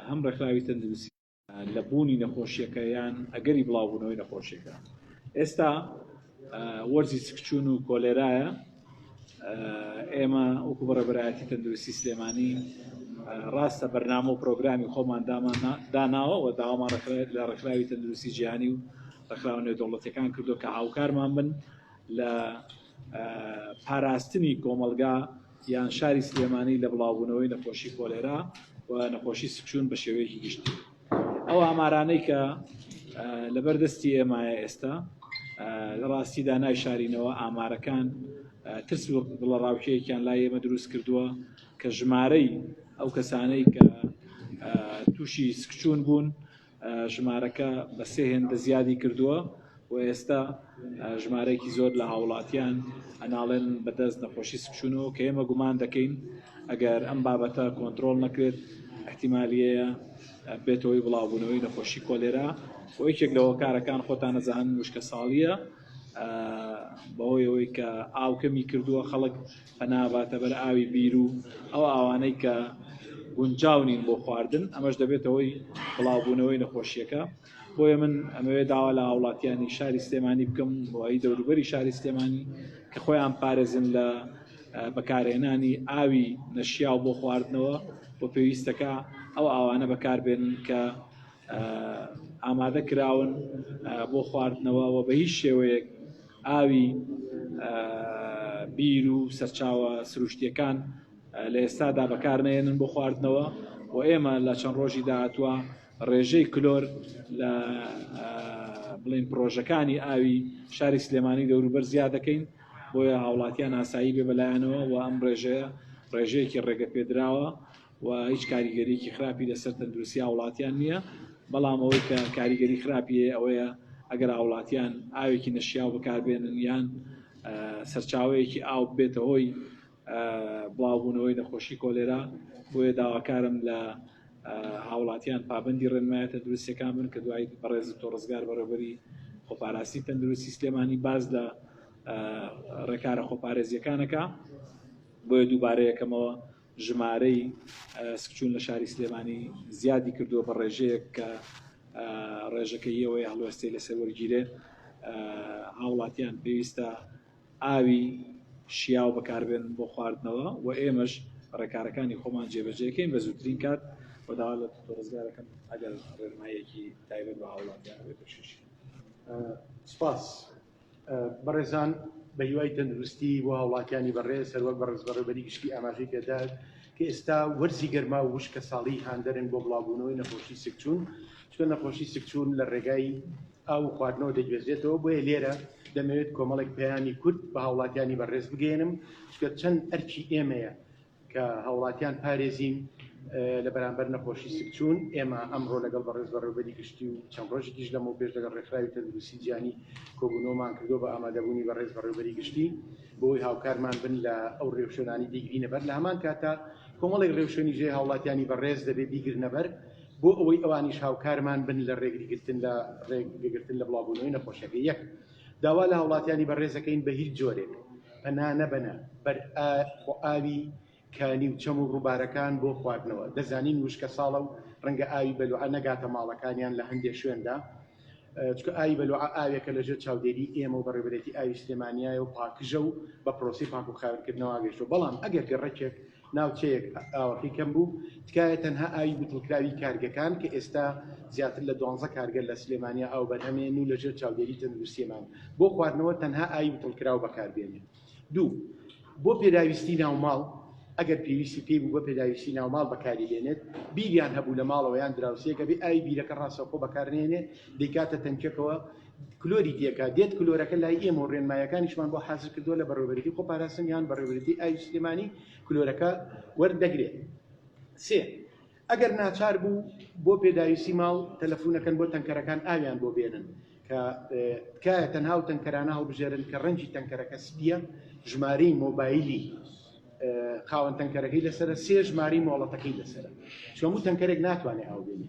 هەم ڕێکخراوی تەندروستی لە بوونی نەخۆشیەکە یان ئەگەری بڵاوبوونەوەی نەخۆشیەکە ئێستا وەرزی سکچون و کۆلێرایە ئێمە وەکو بەڕێبەرایەتی تەندروستی سلێمانی ڕاستە بەرنامە و پرۆگرامی خۆمان داناوە و داوامان لە ڕێکخراوی تەندروستی جیهانی و ڕێکخراوە نێودەوڵەتەکان کردو کە هاوکارمان بن لە پاراستنی کۆمەلگا یان شاری سلێمانی لە بڵاوبوونەوەی نەخۆشی کۆلێرا و نەخۆشی سکچوون بە شێوەیەکی گشتی ئەو ئامارانەی کە لەبەر دەستی ئێمایە ئێستا لە ڕاستیدا نایشارینەوە ئامارەکان ترس و دڵە ڕاوکێکیان لا ئێمە دروست کردووە کە ژمارەی ئەو کەسانەی کە تووشی سکچوون بوون ژمارەکە بە سێ هێندە زیادی کردووە و ئێستا ژمارەیەکی زۆر لە هاوڵاتیان ئەناڵێن بەدەست نەخۆشی سکچوونەوە کە ئێمە گومان دەکەین ئەگەر ئەم بابەتە کۆنتترۆل نەکرێت احتیمالیەیە بێتەوەی بڵاوبوونەوەی نەخۆشی کۆلێرا و یەکێک لە هۆکارەکان خۆتان نەزان وشکە ساڵیە بەهۆی ئەوەی کە ئاوکەمی کردووە خەڵک پەنا ئەباتە بەر ئاوی بیرو ئەو ئاوانەی کە گونجاو نین بۆ خواردن، ئەمەش دەبێتە هۆی بڵاوبوونەوەی نەخۆشییەکە، بۆیە من ئەمەوێت داوا لە هاوڵاتییانی شاری سلێمانی بکەم و هی دەوروبەری شاری سلێمانی کە خۆیان بپارێزن لە بەکارهێنانی ئاوی نەشیاو بۆ خواردنەوە و پێویستەکە ئەو ئاوانە بەکاربێنن کە ئامادە کراون بۆ خواردنەوە و بە هیچ شێوەیەک ئاوی بیر و سەرچاوە سروشتییەکان لە ئێستادا بەکارنەهێنن بۆ خواردنەوە و ئێمە لە چەند ڕۆژی داهاتوە ڕێژەی کلۆر لە بڵین پرۆژەکانی ئاوی شاری سلێمانی دەوروبەر زیاد دەکەین بۆیە هاوڵاتیان ئاسایی بێ بەلایەنەوە و ئەم ڕێژەیە ڕێژەیەکی ڕێگە پێدراوە و هیچ کاریگەریەکی خراپی لەسەر تەندروستی هاوڵاتیان نییە، بەڵام ئەوەی کە کاریگەری خراپی هەیە ئەوەیە ئەگەر هاوڵاتیان ئاوێکی نەشیاو بەکاربێنن یان سەرچاوەیەکی ئاو ببێتە هۆی بڵاوبوونەوەی نەخۆشی کۆلێرا بۆیە داواکارم لە هاوڵاتیان پابندی ڕێنمایە تەندروستەکان بن کە دوای بەڕێز تۆ ڕزگار بەڕێبەری خۆپاراستی تەندروستی سلێمانی باز لە ڕێکارە خۆپارێزیەکانەکە بۆیە دووبارەیەکەمەوە ژمارەی ئەسکچوون لە شاری سلێمانی زیادی کردووە بە ڕێژەیەک کە ڕێژەکە یەوەیە هەڵوێستەی لەسەر وەرگیرێ هاوڵاتیان پێویستە ئاوی شیاو بەکاربێن بۆ خواردنەوە و ئێمەش ڕێکارەکانی خۆمان جێبەجێکەین بە زووترین کات و داوا لە ڕزگارەکەم ئەگەر ڕێنمایەکی تایبەت بە هاوڵاتیان بێت بەشیش سپاس. بەڕێزان بە هیوای تەندروستی بۆ هاوڵاتیانی بەڕێز سەروەک بە ڕزبەڕێبەری گشتی ئاماژەی پێدار کە ئێستا وەرزی گەرما و وشکە ساڵی هاندەرن بۆ بڵاوبوونەوەی نەخۆشی سکچوون چکە نەخۆشی سکچوون لە ڕێگای ئاو خواردنەوە دەگوێزێتەوە بۆیە لێرە دەمەوێت کۆمەڵێک پەیامی کورد بە هاوڵاتیانی بەڕێز بگەێنم چکە چەند ئەرکی ئێمەیە کە هاوڵاتیان پارێزین لە بەرامبەر نەخۆشی سکچوون، ئێمە ئەمڕۆ لەگەڵ بەڕێز بەڕێوبەری گشتی و چەند ڕۆژێکیش لەمەوپێش لەگەڵ ڕێکخراوی تەندروستی جیهانی کۆبوونەوەمان کردووە بە ئامادەبوونی بەڕێز بەڕێوبەری گشتی بۆوەی هاوکارمان بن لە ئەو ڕێوشوێنانەی بیگرینە بەر لە هەمان کاتدا کۆمەڵێک ڕێوشوێنی جێ هاوڵاتیانی بەڕێز دەبێ بیگرنە بەر بۆ ئەوەی ئەوانیش هاوکارمان بن لە ڕێگریگرتن لە ڕێگەگرتن لە بڵاوبوونەوەی نەخۆشیەکە یەک. داوا لە هاوڵاتیانی بەڕێز دەکەین بە هیچ جۆرێک پەنا نەبەنە بەر ئاوی کانی و چەم و ڕووبارەکان بۆ خواردنەوە، دەزانین وشکە ساڵە و ڕەنگە ئاوی بەلوعە نەگاتە ماڵەکانیان لە هەندێ شوێندا، چونکە ئاوی بەلوعە ئاوێکە لە ژێر چاودێری ئێمە و بەڕێوەبەرێتی ئاوی سلێمانیایە و پاکژە و بە پرۆسەی پاک و خاوێنکردنەوە گەشتووە، بەڵام ئەگەر گەڕەکێک ناوچەیەک ئاوەکەی کەم بوو، تکایە تەنها ئاوی بتڵکراوی کارگەکان کە ئێستا زیاتر لە دوانزە کارگە لە سلێمانیە ئاو بەرهەمێنن و لەژێر چاودێری تەندروستیمان بۆ خواردنەوە تەنها ئاوی بتڵکراو بەکاربێنێ دوو بۆ پێداویستی ناوماڵ ئەگەر پێویستی پێی بوو بۆ پێداویستی ناوماڵ بەکاری بێنێت بیریان هەبوو لە ماڵەوە یان دراوسێک ئەبێ ئاوی بیرەکە ڕاستەوخۆ بەکارنەهێنێ دەیکاتە تەنکیەکەوە کلۆری تێکا دێت کلۆرەکە لای ئێمە و ڕێنمایەکانیشمان بۆ حازر کردووە لە بەڕێوەبەریتی خۆ پاراستن یان بەڕێوەبەریتی ئاوی سلێمانی کلۆرەکە وەردەگرێت سێ ئەگەر ناچار بوو بۆ پێداویستی ماڵ تەلەفونەکەن بۆ تەنکەرەکان ئاویان بۆ بێنن کە تکایە تەنها و تەنکەرانە هەڵبژێرن کە ڕەنجی تەنکەرەکە سپیە ژمارەی مۆبایلی خاوەن تەنکەرەکەی لەسرە سێ ژماری مۆڵەتەکەی لەسرە چۆمو تەنکەرێک ناتوانێت ئاو بێنێ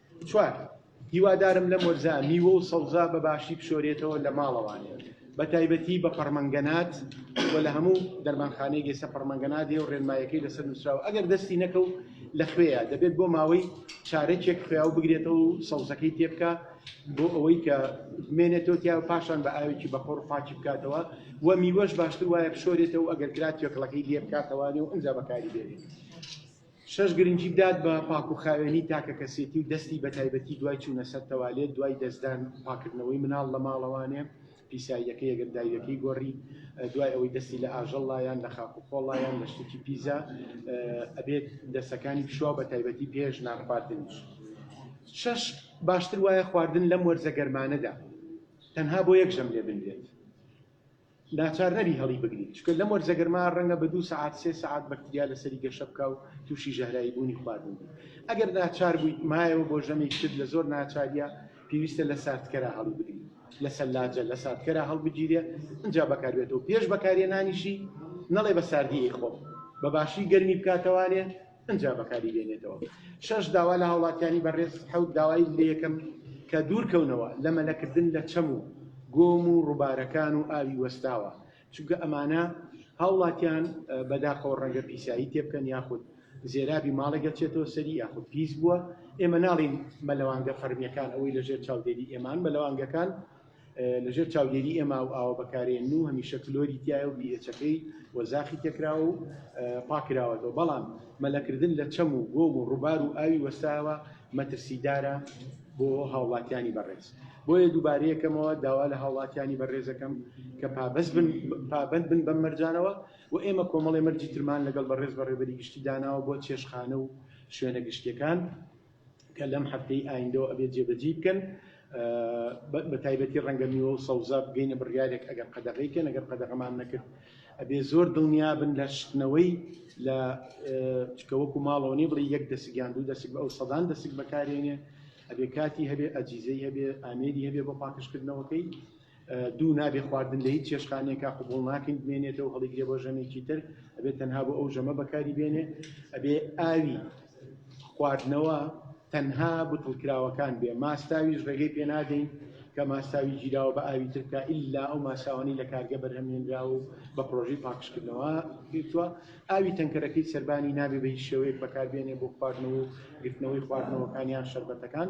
چوار، هیوادارم لەم وەرزە میوە و سەوزە بە باشی بشۆرێتەوە لە ماڵەوانێ بە تایبەتی بە پەڕمەنگەنات و لە هەموو دەرمانخانەیەک ئێستا پەڕمەنگەنات هەیە و ڕێنمایەکەی لەسەر نووسراوە ئەگەر دەستی نەکەو لە خوێیە دەبێت بۆ ماوەی چارەکێک خوێیا و بگرێتەوە و سەوزەکەی تێبکە بۆ ئەوەی کە بمێنێتەوە تیا و پاشان بە ئاوێکی بەخۆڕ پاکی بکاتەوە و میوەش باشتر وایە بشۆرێتەوە ئەگەر کرا توێکڵەکەی لێ بکاتەوانێ و ئەنجا بەکاری بێنێت شەش گرنگی بدات بە پاک و خاوێنی تاکەکەسێتی و دەستی بە تایبەتی دوای چوونە سەر تەوالێت، دوای دەستدان، پاککردنەوەی مناڵ لە ماڵەوانێ، پیساییەکەی ئەگەر داویەکەی گۆڕی، دوای ئەوەی دەستی لە ئاژەڵ لا یان لە خاک و خۆڵ لا یان لە شتێکی پیزا ئەبێت دەستەکانی بشوا بە تایبەتی پێش نان خواردنیش. شەش باشتر وایە خواردن لەم وەرزە گەرمانەدا تەنها بۆ یەک ژەم لێ بنرێت. ناچار نەبی هەڵیبگری، چونکە لەم وەرزە گەرما ڕەنگە بە دوو سەعات سێ سەعات بەکتریا لەسەری گەشە بکا و تووشی ژەهراییبوونی خواردن بی. ئەگەر ناچار بوویت مایەوە بۆ ژەمێکی تر لە زۆر ناچارییە پێویستە لە ساردکەرا هەڵیبگری، لە سەلاجە لە ساردکەرا هەڵبگیرێ ئینجا بەکاربێتەوە پێش بەکارهێنانیشی نەڵێ بە ساردی ئەیخۆم، بە باشی گەرمی بکاتەوانێ. پەنجا بەکاری بێنێتەوە شەش داوا لە هاوڵاتیانی بەڕێز حەوت داوای لەکەم کە دوورکەونەوە لە مەلەکردن لە چەم و گۆم و ڕووبارەکان و ئاوی وەستاوە چونکە ئەمانە هاوڵاتیان بەداخەوە ڕەنگە پیسایی تێبکەن یاخود زێرابی ماڵێک دەچێتەوە سەری یاخود پیس بووە ئێمە ناڵین مەلەوانگە فەرمیەکان ئەوەی لەژێر چاودێری ئێمان مەلەوانگەکان لە ژێر چاودێری ئێمە ئەو ئاوە بەکارێن و هەمیشە کلۆری تایە و بیئێچەکەی و زاخی تێکراوە و پاکراوەتەوە بەڵام مەلەکردن لە چەم و گۆم و ڕووبار و ئاوی وەستاوە مەترسیدارە بۆ هاوڵاتیانی بەڕێز بۆیە دووبارەیەکەمەوە داوا لە هاوڵاتیانی بەڕێزەکەم کە پابەست بن پابند بن بەم مەرجانەوە و ئێمە کۆمەڵی مەرجی ترمان لەگەڵ بەڕێز بەڕێبەری گشتی داناوە بۆ چێشخانە و شوێنە گشتیەکان کە لەم هەفتەی ئایندەوە ئەبێت جێبەجێی بکەن بە تایبەتی ڕەنگە میوە و سەوزە بگەینە بڕیارێک ئەگەر قەدەغەی کەن ئەگەر قەدەغەمان نەکرد ئەبێ زۆر دڵنیابن لە شتنەوەی لە چکەوەکو ماڵەوە نیە بڵێ یەک دەسگیان دوو دەسک بە ئەو سەدان دەسک بەکارێنێ ئەبێ کاتی هەبێ ئەجیزەی هەبێ ئامێری هەبێ بۆ پاکشکردنەوەکەی دوو، نابێ خواردن لە هیچ چێشتخانەیەکا قبوڵ ناکەین بمێنێتەوە هەڵیگرێ بۆ ژەمێکی تر، ئەبێ تەنها بۆ ئەو ژەمە بەکاری بێنێ، ئەبێ ئاوی خواردنەوە تەنها بتڵکراوەکان بێ، ماستاویش ڕێگەی پێ نادەین کە ماستاوی گیراوە بە ئاوی تر بکا ئیلا ئەو ماستاوانەی لە کارگە بەرهەمهێنراوە و بە پڕۆژەی پاکژکردنەوە گرتووە، ئاوی تەنکەرەکەی سەربانی نابێ بە هیچ شێوەیەک بەکاربێنێ بۆ خواردنەوە و گرتنەوەی خواردنەوەکان یان شەربەتەکان.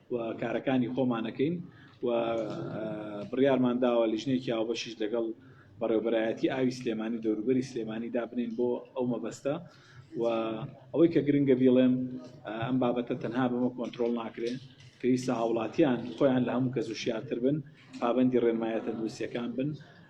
و کارەکانی خۆمان ئەکەین و بڕیارمان داوە لیژنەیەکی هاوبەشیش لەگەڵ بەڕێوبەرایەتی ئاوی سلێمانی دەوروبەری سلێمانی دابنین بۆ ئەو مەبەستە و ئەوەی کە گرنگە بیڵێم ئەم بابەتە تەنها بەمە کۆنتترۆل ناکرێن پێویستە هاوڵاتیان خۆیان لە هەموو کەس و شیارتر بن پابندی ڕێنمایە تەندروستیەکان بن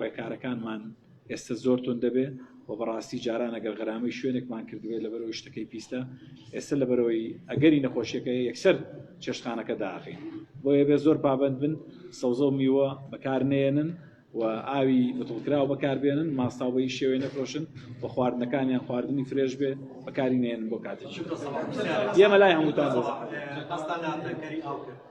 ڕێکارەکانمان ئێستە زۆر تون دەبێ و بەڕاستی جاران ئەگەر غرامەی شوێنێکمان کردوێت لەبەرەوەی شتەکەی پیستە ئێستا لەبەرەوەی ئەگەری نەخۆشیەکە یەکسەر چێشخانەکە داخین بۆیە بێ زۆر پابند بن سەوزە و میوە بەکار نێنن و ئاوی بتڵکراوە بەکاربێنن ماستاوبەی شێوێ نەفرۆشن و خواردنەکانیان خواردنی فرێش بێ بەکاری نێن بۆ کاتێکی ئێمە لای هەمووتان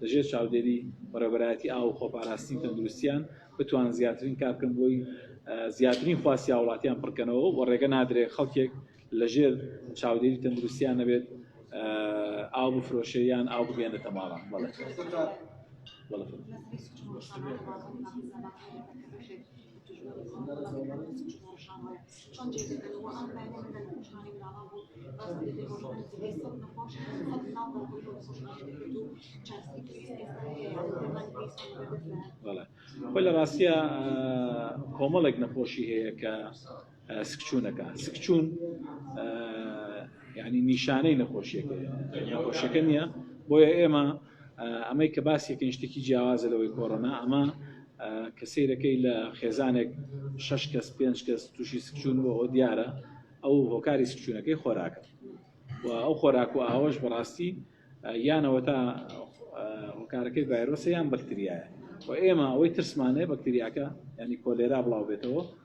لە ژێر چاودێری بەڕێوەبەرایەتی ئاو و خۆپاراستنی تەندروستییان بتوانن زیاترین کار بکەن بۆی زیاترین خواستی هاوڵاتیان پڕکەنەوە و ڕێگە نادرێت خەڵکێک لە ژێر چاودێری تەندروستیان نەبێت ئاو بفرۆشێ یان ئاو بگەێنێتە ماڵان بەڵێ خۆی لە ڕاستە کۆمەڵێک نەخۆشی هەیە کە سکچوونەکە سکچوون ینی نیشانەی نەخۆشیەکە نەخۆشیەکە نییە بۆیە ئێمە ئەمەی کە باسی کەین شتێکی جیاوازە لەوەی کۆرۆنا ئەمە کە سیرەکەی لە خێزانێک شش کەس پێنج کەس تووشی سکچون بۆ ئەو دیارە ئەو هۆکاری سکچونەکەی خۆراکە و ئەو خۆراک و ئاوەش بەڕاستی یانەوە تا هۆکارەکەی ڤایرۆسە یان بەکتریایە و ئێمە ئەوەی ترسمانەیە بەکتریاکە ینی کۆلێرا بڵاو بێتەوە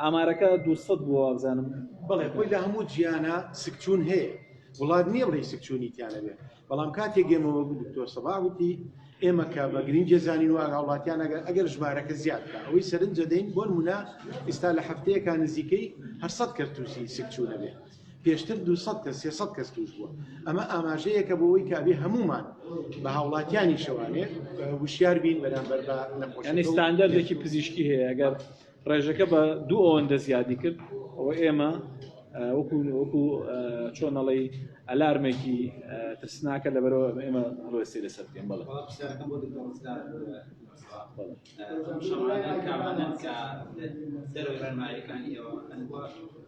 ئامارەکە دوو سەد بووە وابزانم. بەڵێ خۆی لە هەموو جیانا سکچوون هەیە وڵات نییە بڵێ سکچوونی تیانەبێت بەڵام کاتێک گەمەوە دکتۆر سەبا وتی ئێمە کە بە گرنگجە زانین و ئاگاوڵاتیان ئەگەر ئەگەر ژمارەکە زیاد بکە ئەوەی سەرنجە دەین بۆ نمونە ئیستا لە هەفتەیەکە نزیکەی هەرسەد کەرتوسی سکچوونە بێ پێشتر 200 کە 300 کەس توش بووە ئەمە ئاماژەیەکە بۆەوەی کابێ هەمومان بە هاوڵاتیانی شەوانێ وشیار بین بەرامبەر بە نەخۆشستاندەرێکی پزیشکی هەیە گەر ڕێژەکە بە دوو ئەوەندە زیادی کرد ئەوە ئێمە وەکو وەکو چۆنەڵی ئەلارمێکی ترسناکە لە بەرەوە ئێمە ڕۆستی لەسەر پێم بڵێ دەرەوەی ڕێنمایەکانی ئێوە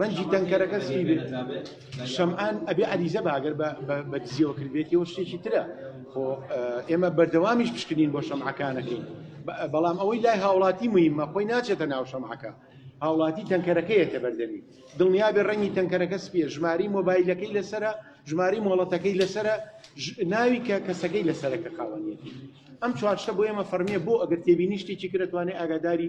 ڕەنجی تەنکەرەکە سپی بێت شەمعان ئەبێ عەریزە بە ئەگەر بە- بە- بە دزیەوە کردبێتەوە شتێکی ترە خۆ ئە، ئێمە بەردەوامیش پشکنین بۆ شەمعەکانەکەین بە- بەڵام ئەوەی لای هاوڵاتی مهمە خۆی ناچێتە ناو شەمعەکە هاوڵاتی تەنکەرەکەیەتە بەردەمی دڵنیا بێ ڕەنگی تەنکەرەکە سپیە ژماری مۆبایلەکەی لەسرە ژماری مۆڵەتەکەی لەسرە ژ- ناوی کە کەسەکەی لەسەرەکە خاوەنیەتی ئەم چوارشتە بۆ ئێمە فەرمیە بۆ ئەگەر تێبینی شتێکی کرەتوانێ ئاگاداری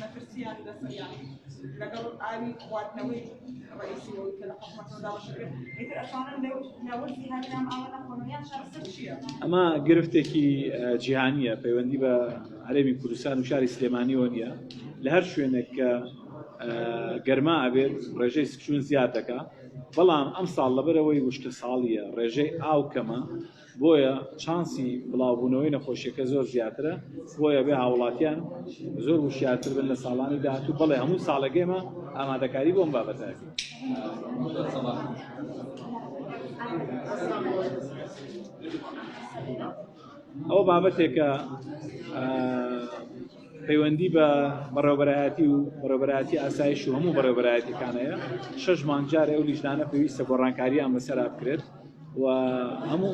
مەترسیان لەسەریان لەگەڵ ئاوی خواردنەوەی ڕئیسیەوەی کە لە حکومەتەوە داواشە کرد ئیتر ئەتوانن لەو ناوەندی هەرنام ئاوە نەخۆنەوە یان چارەسەر چییە؟ ئەمە گرفتێکی جیهانیە پەیوەندی بە هەرێمی کوردستان و شاری سلێمانیەوە نییە لە هەر شوێنێک کە گەرما ئەبێت ڕێژەی سکچون زیاد دەکە بەڵام ئەم ساڵ لەبەرەوەی وشکە ساڵیە ڕێژەی ئاو کەمە بۆیە چانسی بڵاوبوونەوەی نەخۆشیەکە زۆر زیاترە بۆیە بێ هاوڵاتیان زۆر وشیارتر بن لە ساڵانی داهاتوو بەڵێ هەموو ساڵەکەێمە ئامادەکاری بۆم بابەتە ئەو بابەتێکە پەیوەندی بە بەڕێوەبەرایەتی و بەڕێوەبەرایەتی ئاسایش و هەموو بەڕێوەبەرایەتیەکان هەیە شەش مانگ جارێ ئەو لیژنانە پێویستە گۆڕانکاریان بەسەرا بکرێت و هەموو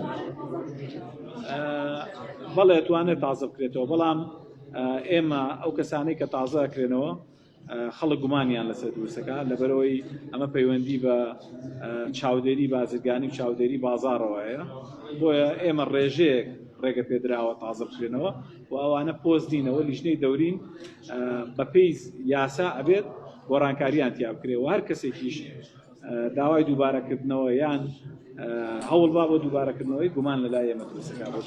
بەڵێ توانێت تازە بکرێتەوە بەڵام ئێمە ئەو کەسانەی کە تازە کرێنەوە خەڵک گومانیان لەسەر دروستەکە لەبەرەوەی ئەمە پەیوەندی بە چاودێری بازرگانی و چاودێری بازارەوەیە بۆیە ئێمە ڕێژەیەک ڕێگە پێدراوە تازە بکرێنەوە و ئەوانە پۆست دینەوە لیژنەی دەورین بەپی یاسا ئەبێت گۆڕانکاریان تیا بکرێ و هەر کەسێکیش داوای دووبارەکردنەوە یان هەوڵبا بۆ دووبارەکردنەوەی گومان لە لای ئێمە دروستکا بۆ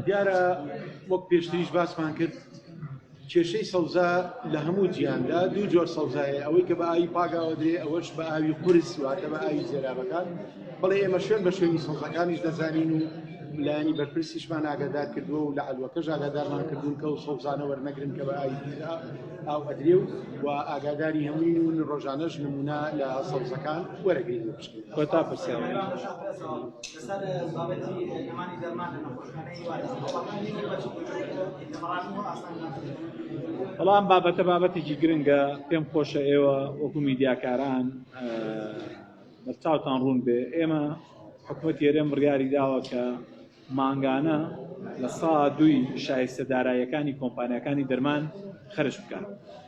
دیارە وەک پێشتریش باسمان کرد کێشەی سەوزا لە هەموو جیهاندا دوو جۆر سەوزا هەیە، ئەوەی کە بە ئاوی پاک ئاوەدرێ ئەوەش بە ئاوی قورس واتە بە ئاوی زێرابەکان، بەڵێ ئێمە شوێن بە شوێنی سەوزاکانیش دەزانین و لایەنی بەرپرسیشمان ئاگادار کردووە و لە عەلوەکەش ئاگادارمان کردوون کە ئەو سەوزانە وەرنەگرن کە بە ئاوی پیس ئاو ئەدرێ و و ئاگاداری هەمووین و ڕۆژانەش نموونە لە سەوزەکان وەرەگرین و بشکێنین. کۆتا پرسیار. بەڵام بابەتە بابەتێکی گرنگە پێم خۆشە ئێوە وەکو میدیاکاران بەرچاوتان ڕوون بێ ئێمە حکوومەت هێرێم بڕیاری داوە کە مانگانە لە سا دوی شایستە دارایەکانی کۆمپانیەکانی دەرمان خرج بکات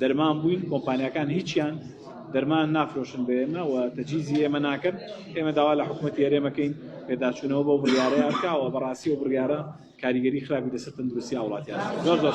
دەرمان بووین کۆمپانیاکان هیچیان دەرمان نافرۆشن بە ئێمە و تەجیزی ئێمە ناکەن ئێمە داوا لە حکوومەتی هەرێمەکەین پێداچوونەوە بۆ بڕیارەیە بکەوە بەڕاستی و بڕیارە کاریگەری خراپی لەسەر تەندروستی هاوڵاتیان زۆر زۆر